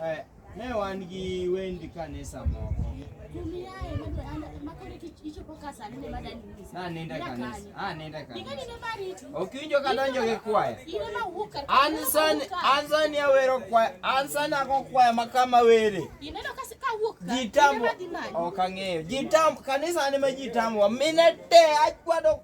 Eh, ne wan gi wend kanisa moko naninde kanisa aninde kanisa okinjo kadonjo gi kwaya ansan ansan awero kwaya ansan ako kwaya makama were jitambo ok ang'eyo jitambo kanisa ni ma jitambo mine te achwado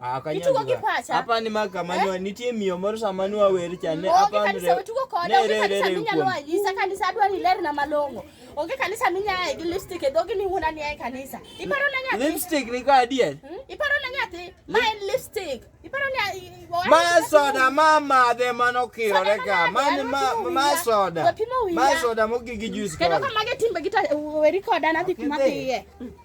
Ah, Itugo gi pacha. Apa ni maka eh? manwa nitie miyo moro sama nwa wer cha ne apa ni. Onge kanisa tugo kode, onge kanisa minyalo anyisa kanisa adwa ni ler na malong'o. Onge kanisa minyaye gi lipstick e dhogi ni wuona ni ae kanisa. Iparo na nyathi. Lipstick ni ka adier. Hmm? Iparo na nyathi. Ma en lipstick. Iparo na Ma soda ma madhe mano kirore ka. Mani ma ma soda. Ma soda mogigi juice. Kendo ka mage timbe gita weri koda na dhi kuma dhiye. Hmm.